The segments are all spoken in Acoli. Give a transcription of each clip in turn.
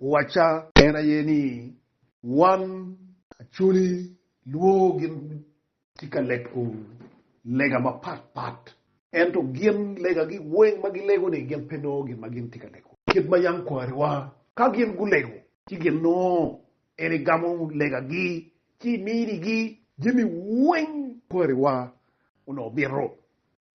uwacca. En aye ni, Wan Acholi lwo gin tye ka lego lega mapat pat, ento gin legagi weng ma gilego-ni gin pe nongo gin ma gin tye ka lego kit ma yam kwariwa ka gin gulego ci gin nongo en igamo legagi ci iminigi jami weng kwariwa onongo bito.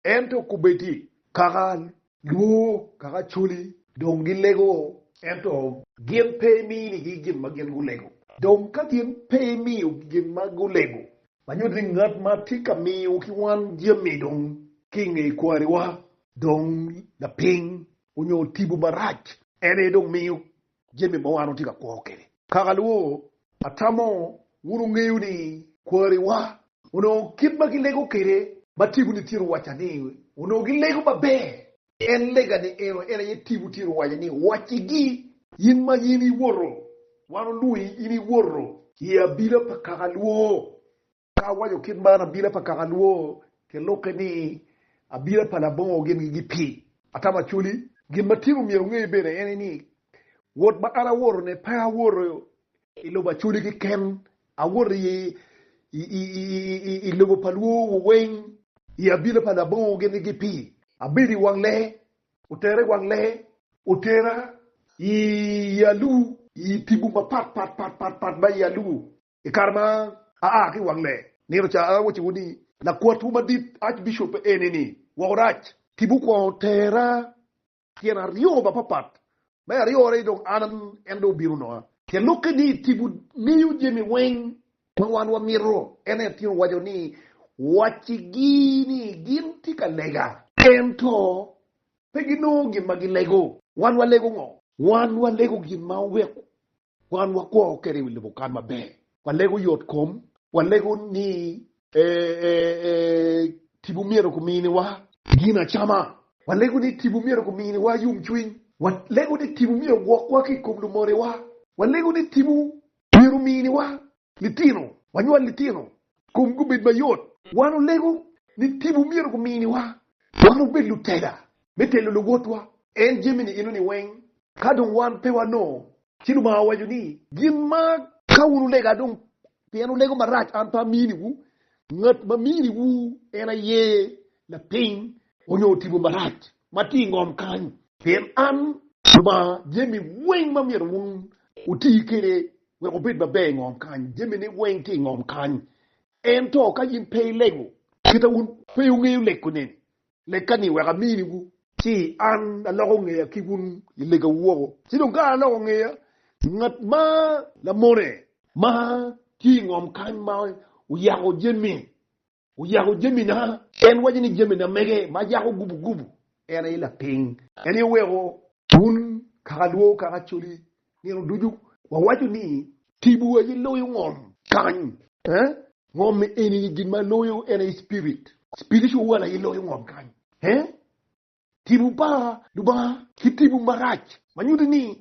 Ento kubedi kakal. Lwor kaka coli. Dong gilego, ento. Gin pe iminigi gin ma gin gulego. Dong ka gin pe imiyogi gin ma gulego. Ma nyuto ni ngat ma tye ka miyo ki wan jami dong ki i nge kwariwa dong lapiny onyo tipo marac. En aye dong miyo jami ma wan watye ka kwo kwede. Kaka alwor, atamo wun wungeyo ni kwariwa onongo kit ma gilego kwede. Ma Tibuni tyero wacca ni onongo gilego maber, en lega ni eno, en aye Tibu tyero wacca ni, Waccigi, in ma in iwoto, wan olwongi, in iwoto. I abila pa kaka alwor, Ka awaco kit man, abila pa kaka lwor gilukke ni abila pa labongo gin gigi pi atamo acholi. Gin ma tyeko myero ongey bene ene ni wot ma an awoto ne pe awoto i lobo acholi keken, awoto i lobo pa lwor wu weng. I abila pa labongo gin gigi pi abedo i wang lee, otera i wang lee, otera i aluu, i tipo ma pat pat pat pat pat ma i aluu. I kare ma aa ki i wang lee, nino ca awacowu ni. Lakwatwu madit, Archbishop, eni-ni woko rac. Timwu kwongo tera tyen aryo mapapat. Me aryone-ni dong an en dong obino nonga. Tyen lokke ni timwu ngeyo jami weng ma wan wamito. En aye atingo waco ni, Wacigi ni gin tye ka lega, ento pe ginongo gin ma gilego. Wan walego ngo? Wan walego gin ma oweko Wan wakwo kede i wi lubo kan maber. Walego yot kom. Walego ni tipo myero kuminiwa. Gin acama. Walego ni tipo myero kuminiwa yom cwiny. Walego ni tipo myero gwokwa ki i kom lumonewa. Walego ni tipo myero ominiwa litino, wanywal litino, komgi obed mayot. Wan olego ni tipo myero guminiwa wan wubed lutela me telo luwotwa en jami-ni eno-ni weng. Ka dong wan pe wanongo, ci Lubanga owaco ni, Gin ma ka wun wulega dong pien wulego marac an pe aminiwu, ngat ma miniwu en aye lapiny onyo tipo marac ma tye i ngom kany. Pien an Lubanga jami weng ma myero wun wuti kwede wek obed maber i ngom kany, jamine weng tye i ngom kany. Ento ka in pe ilego, kita wun pe wungeyo lek kunene, lekka-ni wek aminiwu. Ci an aloko ngeya ki wun i legawu woko. Ci dong ka an aloko ngeya, ngat ma lamone ma tye i ngom kany ma oyako jammi Oyako jamina. En waco ni jamina mege ma yako gubu gubu en aye lapiny. En aye oweko. Wun kakalwo, kakacoli, nino ducu wawaco ni. Tibu aye loyo ngom kany. Eh? Ngom eni gin ma loyo en aye spirit. Spiritual world aye loyo ngom kany. Eh? Timo pa Lubanga ki timo marac ma nyuto ni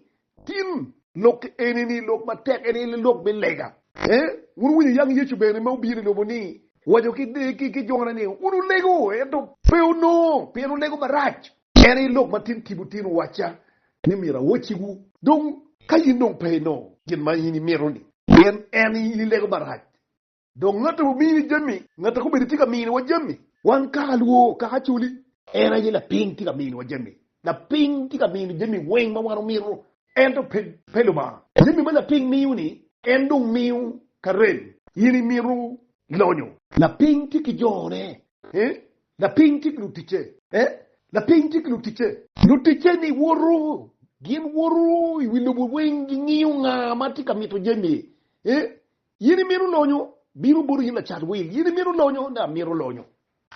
tin lok eni ni lok matek en aye lok me lega. Ee, wun wuwinyo yang Yecu bene ma obino i lobo ni waco ki jone ni wun wulego, ento pe wunongo, pien wulego marac. En aye lok ma tin timo tin owacca ni myero awocciwu. Dong, ka in dong pe inongo gin ma in imito-ni pien en ilego marac, Dong ngat a pe omiyo jami, ngat a komedo tye ka miniwa jami. Wan kaka lwo, kaka coli. En aye lapiny tye ka miniwa jami. Lapiny tye ka mino jami weng ma wan omito, ento pe. Pe Lubanga. Jami ma lapiny miyo-ni, en dong miyo ka rem. In imito lonyo. Lapiny tye ki jone. Ee, lapiny tye ki luticce. Ee, lapiny tye ki luticce. Luticce-ni woto, gin woto i wi lobo weng, gingiyo nga ma tye ka mito jami. Ee, In imito lonyo? Bino bota in lacat wil. In imito lonyo? Ne, amito lonyo.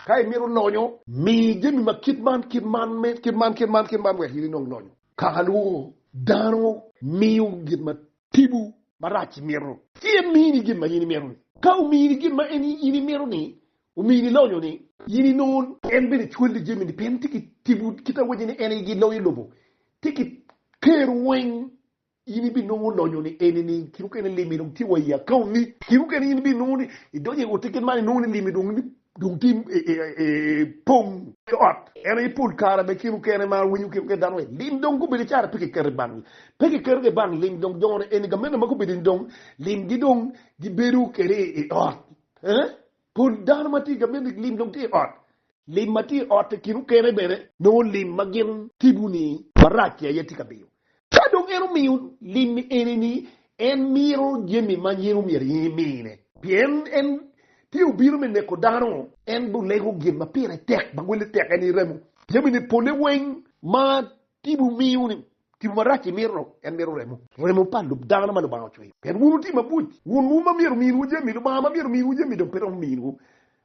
Ka imito lonyo. Mi jami ma kit man, kit man, me, kit man, kit man, kit man, wek in inong lonyo. Kaka lwongo dano miyo gin ma tipo marac imito. Ci en mini gin ma in imito-ni. Ka omini gin ma en, in imito-ni, omini lonyo-ni. In inong. En bene cwali jami-ni pien tye ki tipo, kit awacci ni en aye gin loyo i lobo. Tye ki ker weng in ibinongo lonyo ni eni ni kit mukene limi dong tye wa i account ni, kit mukene in ibinongo ni idonyo i ote kit man inongo ni limi dong dong tye pong ki ot. En aye pol kare bene kit mukene ma awinyo kit mukene dano ni lim dong gubedo icara pe kiketo i bank, pe kiketo ki i bank lim dong jone eni gamene ma gubedo ni dong limgi dong gibedo kede i ot eeh. Pol dano ma tye ka miti ki lim dong tye i ot. Lim ma tye i ot i kin okene bene nongo lim ma gin tibu-ni marac-ci aye tye ka miyo. Ka dong en omiyo lim-mi eni-ni, en mito jami ma nyen omyero in imine. Pien en tye obino me neko dano. En dong lego gin ma pire tek, ma welle tek, en iremo jamine pole weng ma tibu miyo-ni. Tipo marac imito-nu en mito remo. Remo pa lub dano ma Lubanga ocweyo. Pien wun wuti mabuc, wun wu ma myero ominwu jami, Lubanga ma myero ominwu jami dong pe romo miyowu.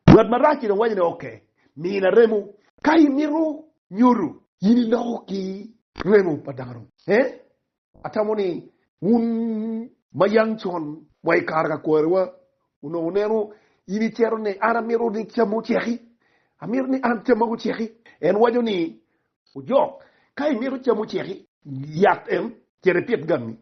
Ngat marac-ci dong waco ni, Oke, mina remo. Ka imito nyodo, in iloko ki remo pa dano. Ee, atamo ni wun ma yang con wa i kare ka kwariwa onongo wuneno in icero ni, An amito ni cammi oceki. Amito ni an camma guceki. En waco ni, Ojok, Ka imito cam oceki. Yat en, cito ipit gangi.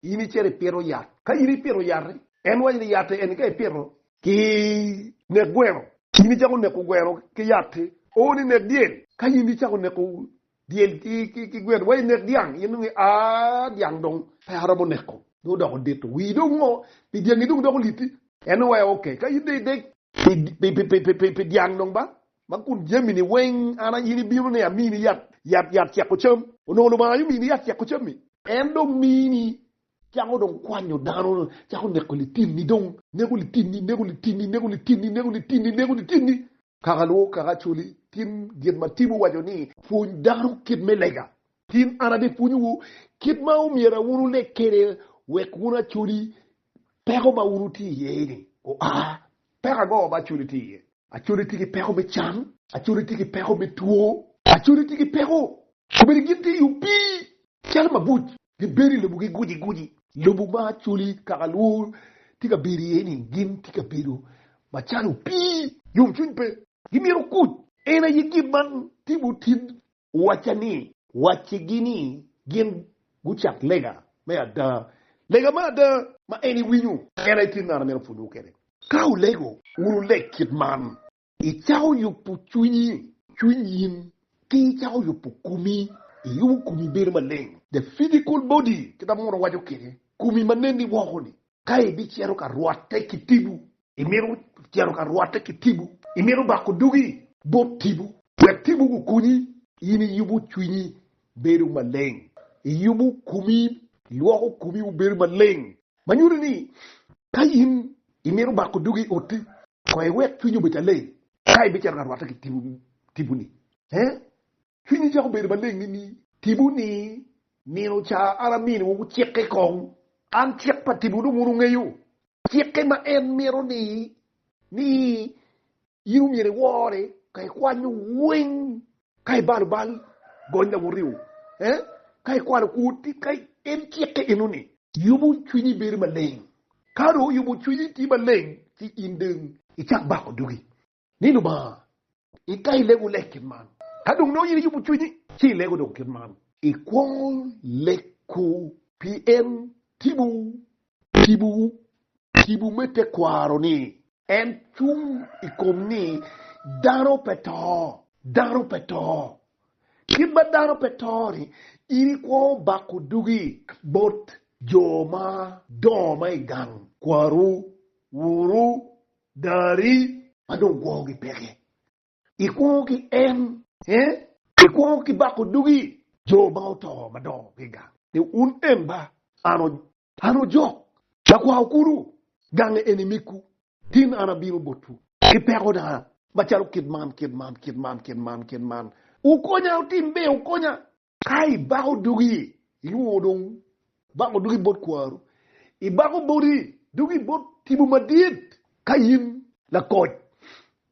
In icito ipito yat. Ka in ipito yat-ti, en waco ni yat-ti eni ka ipito ki nek gweno, in icako neko gweno ki yat-ti, ooni inek dyel. Ka in icako neko dyel ki gweno, wa inek dyang, in dong ia, dyang dong pe aromo neko, dong odoko dito. Wii dong ngo pi dyangi dong doko lit-ti? En dong waco, Ok, ka in dong idek pi dyang dong ba, Ma kun jamini weng an aye in ibinone amini yat, yat, yat ceko cam. Onongo Lubanga aye omini yat ceko cam-mi. En dong mini, cako dong kwanyo dano, cako neko litinni dong. Neko litinni, neko litinni, neko litinni, neko litinni, neko litinni. Kaka lwok, kaka Acholi, tin gin ma Tim owaco ni. Pwony dano kit me lega. Tin an abipwonyowu kit ma omyera wun wuleg kwede wek wun Acholi peko ma wun wutye iye-ni oa. Peko ango ma Acholi tye iye? Acode tye ki peko me cam. Acode tye ki peko me two. Acode tye ki peko obedo gin te yub pii calo mabuc. Gibedo i lobo giguci guci. Lobo ma Acholi kaka lwo tye ka bedo iye ni gin tye ka bedo macalo pii. Yomcwiny pe. Gimito kuc. En aye gin man timo tin. owacca ni. Waccigi ni gin gucat lega me ada. Lega me ada ma en iwinyo en aye kit ngano myero pwonyowu kwede. Ka wulego, wun wuleg kit man. Icako yubo cwinyi, cwiny in, ki icako yubo komi, iyubo komi bedo maleng. The physical body, kit ma Munu waco kwede, komi ma nenni woko-ni. Ka ibicito ka rwotte ki tipo. Imito cito ka rwotte ki tipo. Imito bako dugi bot tipo. Wek tipo gukonyi. In iyubo cwinyi bedo maleng. Iyubo komi, ilwoko komi obedo maleng. Ma nyuto ni, ka in imito bako dugi i otti, kong iwek cwinyi obed aleng ka ibicito ka rwotte ki tiponi. Cwinyi cako bedo maleng nining? Tipo ni, Nino ca an aminiwu cikke kong. An cik pa tipo dong wun wungeyo cikke ma en mito ni ni in omyero iwore ka ikwanyo weng, ka ibalo bal, gony laworio, eh, ka ikwalo kwor tit, ka en cikke eno ni. Yubo cwinyi bedo maleng. Ka dong oyubo cwinyi itye maleng ci in dong. Icak bako dogi. ni Lubanga, Ika ilego lek kit man. Ka dong nongo in iyubo cwinyi, ci ilego dong kit man. Ikwongo leko pi en timo tipo tipo me tekwaro-ni. En cung i kom ni dano pe to. Dano pe to. Kit ma dano pe to-ni, in ikwongo bako dugi bot jo ma dongo ma i gang, kwaru, wuru, Dari. Ma dong kwogi peke. I kwongo ki en. Eh? I kwongo ki bako dugi. Jo ma oto madongo giga. Ni un en ba. An. An ojok. Lakwao kulu. Gange eni mikwu. Tin an abino botwu. Ki peko na. Macalo kit man, kit man, kit man, kit man, kit man. Wukonya, wutim be, wukonya. Ka ibako dugi, ilwongo dong bako dugi bot kwaru. Ibako boti dugi bot tipo madit. Ka in lakoc,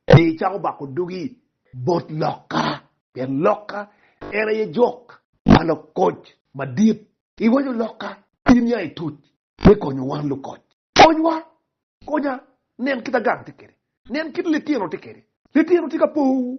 myero icako bako dugi bot lokka, pien lokka en aye jok ma lakoc madit. Iwaco lokka in ya ituc me konyo wan lukoc. Konywa, konya, nen kit agang tye kede, nen kit litino tye kede, litino tye ka powu.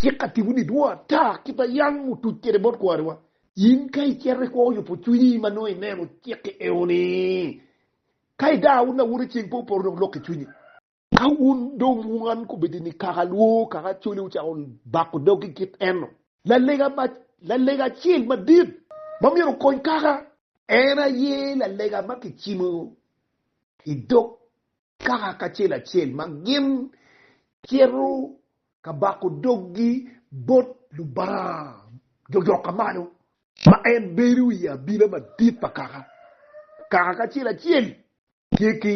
Cik atiko ni dwong ata kit ma yam otuc kwede bot kwariwa. In ka icito ikwo yubo cwinyi ma nongo ineno cik-ki eoni. Ka idaro wun awuna ceng pe opoto dong loki cwinyi. Ka wun dong wan kubedi ni kaka lwo kaka coli wucako bako dogi kit eno. Lalega acel madit ma myero okony kaka. En aye lalega ma kicimo idog Kaka kacel acel ma gin cito ka bako doggi bot Lubanga jojoka malo, ma en bedo i abila madit pa kaka, kaka kacel acel tye ki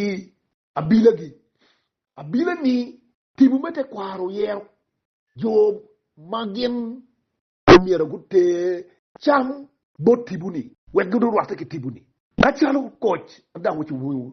abilagi. Abila-ni tipo me tekwaro oyero jo ma gin omyero guter cam bot tipo-ni wek gurwatte ki tipo-ni. Macalo koc adawoco bwoyo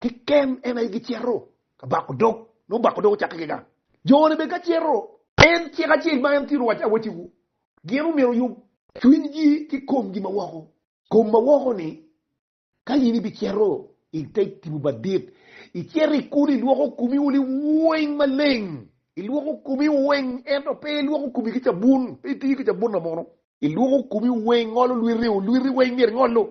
Keken en aye gicito ka bako dog, nongo bako dog ocakke kika. Jone bene ka cito. En cik acel ma en tye rwac awacciwu, gin omyero oyub. Cwinygi ki komgi ma woko. Kom ma woko ni, Ka in ibicito i te tipo madit, icito i kulu ilwoko komiwu liweng maleng, ilwoko komiwu weng, ento pe ilwoko komi ki cabun, pe itiyo ki cabun namono. Ilwoko komi weng, ngolo lwiti o, lwiti weng myero ingolo,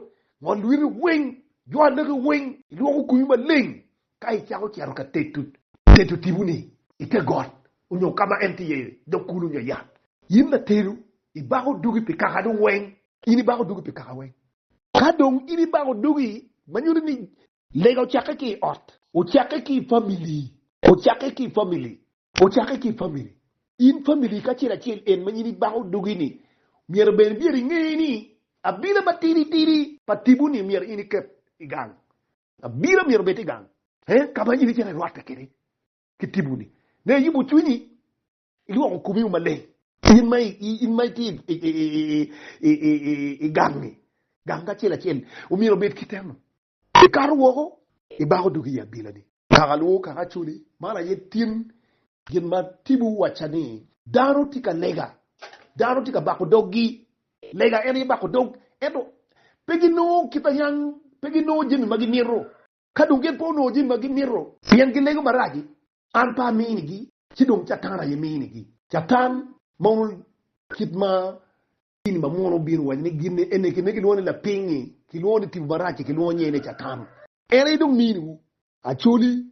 ngol lwiti weng, jwa anagi weng, ilwoko komi maleng ka icako cito ka teto teto tiponi ite got onyo ka ma en tye iye dog kulu onyo yat. In latedo, ibako dogi pi kakadu weng. In ibako dogi pi kaka weng. Ka dong in ibako dogi, ma nyuto ni. Lega ocakke ki i ot. Ocakke ki i famili. Ocakke ki i famili. Ocakke ki i famili. In famili kacel acel en ma in ibako dogi-ni, myero bene myero inge ni abila matidi tidi pa tibu-ni myero in iket i gang. Abila myero obed i gang ka ma in icito irwatte kwede ki tibu-ni me yubo cwinyi, ilwoko komiwu maleng. In ma in ma itye i gang-ni, gang kacel acel omyero obed kite-nu. Ikato woko ibako dogi i abilani. Kaka luwo kaka acoli, man aye tin gin ma Tibu wacca ni. Dano tye ka lega, dano tye ka bako doggi. Lega en aye bako dog, ento pe ginongo kit a niang, pe ginongo jami ma gimito. Ka dong gin pe onongo jami ma gimito. Pien gilego marac-ci, an pe aminigi, ci dong Catan aye minigi. Catan ma onongo kit ma Dini ma munu obino waco ni gin eni kine kilwongo ni lapingngi, kilwongo ni tipo marac-ci kilwongo nyinge ni Catan. En aye dong miniwu. Actually,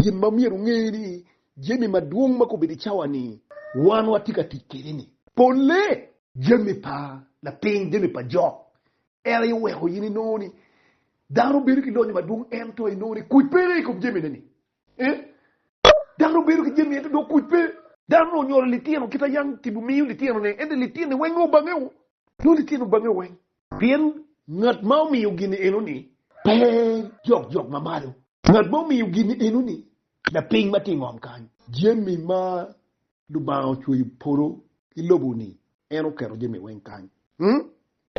gin ma myero wunge ni jami madwong ma kobedo i cawa-ni wan watye ka tic kwede-ni, polle jami pa lapiny, jami pa jok, en aye weko in inongo ni dano bedo ki lonyo madwong ento inongo ni kuc pe aye i kom jamine-ni. Dano bedo ki jami ento dong kuc pe. Dano onyolo litino kit ayang tipo miyo litinone, ento litine weng nongo bangeo, nongo litino bangeo weng. Pien ngat ma omiyo gin enoni pe jok jok ma malo, ngat ma omiyo gin enoni lapiny ma tye i ngom kany. Jami ma Lubanga ocweyo polo ki lobo-ni, en oketo jami weng kany. Ung,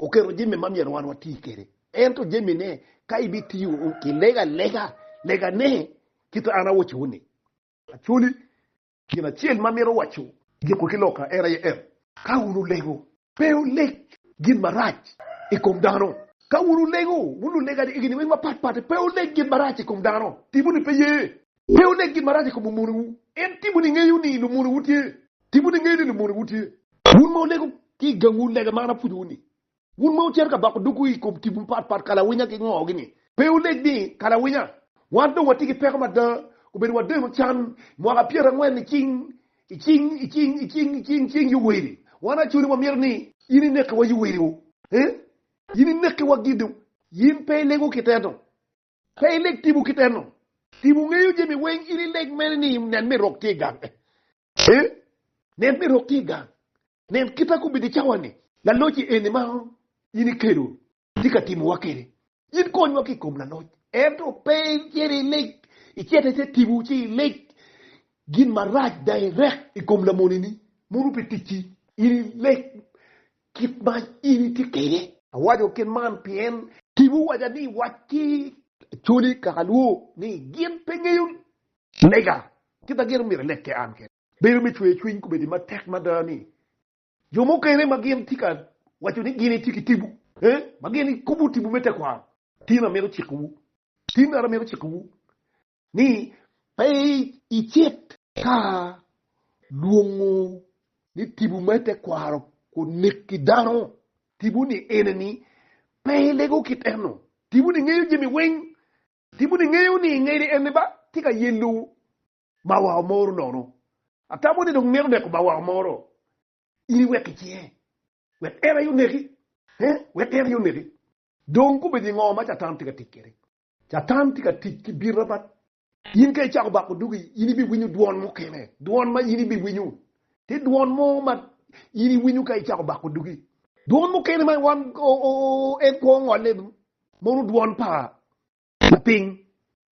oketo jami ma myero wan wati kede. Ento jamine, ka ibitiyo ki lega alega, lega ne kit an awoco ni. Actually, gin acel ma amito waco, giko ki loka, en aye en, ka wun wulego, Pe wuleg gin marac i kom dano. Ka wun wulego, wun lulega ni egini weng mapat pat, pe wuleg gin marac i kom dano, tipo ni pe ye. Pe wuleg gin marac i kom lumonewu, en tipo ni ngeyo ni lumonewu tye, tipo ni ngeyo ni lumonewu tye. Wun ma wulego ki i gangwu lega ma an apwonyowu ni, wun ma wucito ka bako dogwu i kom tipo mapat pat, kalawinya ki ngo gini. Pe wuleg ni, kalawinya, wan dong watye ki peko mada, obedo wadeno can mwaka pyerangwen nicing, I cing, i cing, i cing, i cing, i cing Yoweri, wan acoli wamyero ni. Yin inekiwa Yoweri o. Ee, yin inekiwa gin dong. Yin pe ilego ki teno. Pe ileg tipo ki teno. Tipo ngeyo jami weng, in ileg mene ni nen me rok tye i gang. Ee, nen me rok tye i gang. Nen kit a kobedo i cawa ni. Laloc i eni ma in ikelo tye ka timowa kede. In konywa ki i kom laloc, ento pe icit ilig, icit ite tipo ci ilig gin marac dang irek i kom lamonini mono pi ticci, in ileg kit ma in itye kwede. Awaco kit man pien. Tipo owaca ni, Wac ki acholi kaka alwor ni gin pe ngeyo lega kit ma gin myero ileg kwede an kene. Bedo me cweyo cwiny kobedi matek mada ni Jo mukene ma gin tye ka waco ni gin gitye ki tipo, ma gin gikubo tipo me tekwaro, tin amito cikowu, tin ara amito cikowu ni pe icit ka lwongo ni tipo me tekwaro oneki dano. Tiponi ene ni, pe ilego kit eno. Tiponi ngeyo jami weng. Tiponi ngeyo ni ngede ene ba tye ka yelo Mawao moro nono. Atamo ni dong mito neko mawao moro in iwek i cinge, wek en aye oneki. He, wek en aye oneki. Dong kobedo i ngo ma Catan tye ka tic kwede? Catan tye ka tic ki bin mapat. In ka icako bako dugi, in ibiwinyo dwon mukene, dwon ma in ibiwinyo. Tye dwon mo ma in iwinyo ka icako bako dugi. Dwon mukene ma wan en kwo ongole mono dwon pa lapiny.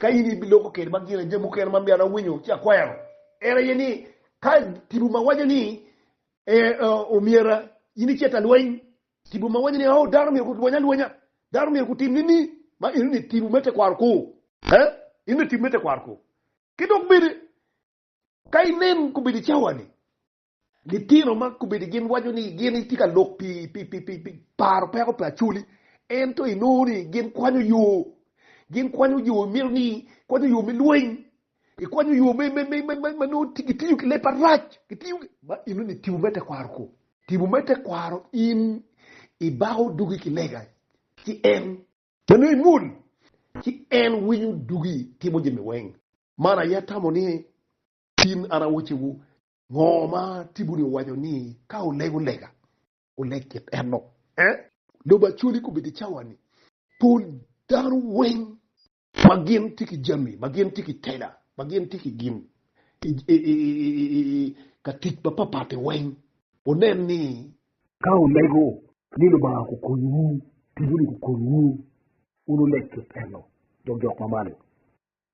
Ka in ibiloko kede ma gire jami mukene ma myero an awinyo ci akwero, en aye ni ka tipo ma waco ni omyera in icit alweny, tipo ma waco ni oh dano myero gulwony alwonya, dano myero gutim nini, ma eno ni tipo me tekwaro ko, eh, eno ni tipo me tekwaro ko. Ki dok bene ka inen kobedo i cawa-ni, Litino ma kobedi gin waco ni gin gitye ka lok pi paro peko pa Acholi, ento inongo ni gin kwanyo yo, gin kwanyo yo mito ni kwanyo yo me lweny, ikwanyo yo me me me me ma nongo gitiyo ki leb marac, gitiyo ma inongo ni tipo me tekwaro ko, tipo me tekwaro in ibako dugi ki lega ci en. Ma nongo imul ci en winyo dugi timo jami weng. Man aye atamo ni tin an awaciwu. Ngo ma Tibuni owaco ni ka olego lega, oleg kit enno? Eh? Lobo Acholi kobedi cawa-ni. Pol dano weng ma gin tye ki jami, ma gin tye ki tela, ma gin tye ki gin ka tic ma papatti weng, wunen ni ka wulego ni Lubanga kukonyiwu, Tibuni kukonyiwu, wun wuleg kit enno, dok jok ma malo.